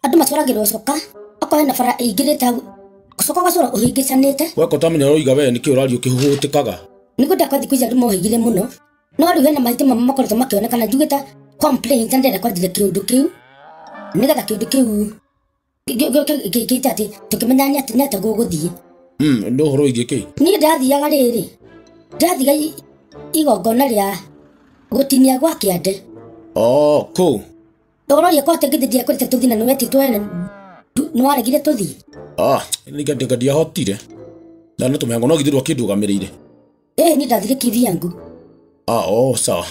andũ macũragĩrwo coka okorwo hena bara ĩingĩrĩte hau coka ũgacũra ũhĩngĩcanĩte weka ũtamenya ũroiga wee nĩkĩ ũraria ũkĩhũhũtĩkaga nĩguo ndakwa thikũ ici andũ mohĩgire mũno no rĩu hena maitĩ mamwe makoretwo makĩonekana njugĩte complaint na ndĩrenda kwanjĩria kĩũndũ kĩu nĩgetha kĩũndũ kĩu gĩte atĩ tũkĩmenya nĩ atĩ- nĩ atĩa gũgũthiĩ Mm, nĩ ũhoro wĩgiĩ kĩ niĩ ndathiaga rĩrĩ ndathiga i- igongona rĩa gũtinia gwa kĩande o kũu Ndũroria kwa atĩ ngĩthithia kũrĩte tũthi na nĩwe ti twene. Nĩ waregire tũthi. Ah, nĩ ngandĩka ndiahotire. Na nĩ tũmengo no githirwo kĩndũgamĩrĩire. Ĩĩ niĩ ndathire kĩthiangu. Ah, oh, sawa.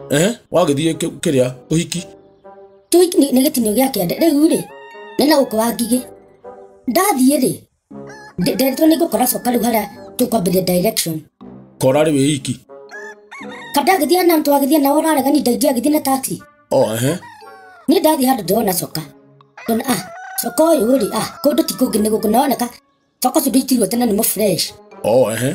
Eh, wagĩthiĩ kĩ- kĩrĩa ũhiki. Tũhiki nĩ nĩ gĩtinio gĩa kĩande. Rĩu-rĩ, nĩ na gũkũ wa ngigĩ. Ndathiĩ-rĩ, Nde- Nderitwo nĩ ngũkora coka rĩu harĩa tũkwambĩria direction. kora rĩ wĩiki Kabla agĩthiĩ na mtu agĩthiĩ na ũrarega ni ndaingĩ agĩthiĩ na taxi. o ehe Niĩ ndathiĩ handũ ndĩrona coka. Ndona ah coka ũyũ rĩ ah kũndũ ti kũngĩ nĩ gũkũ noneka coka ũcio ndĩitirwo tene nĩ mũ fresh. o ehe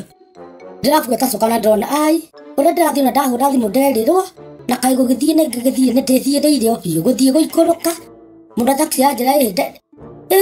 ndĩrabuata coka na ndona ai ũrĩa ndĩrathiĩ na ndahũra thimũ nderirwo na kaĩ gũgĩthiĩ nĩ ngĩgĩthiĩ nĩ ndĩthiĩrĩire o biũ gũthiĩ gũikũrũka mũndũ taxi yanjĩra ĩ nde ĩ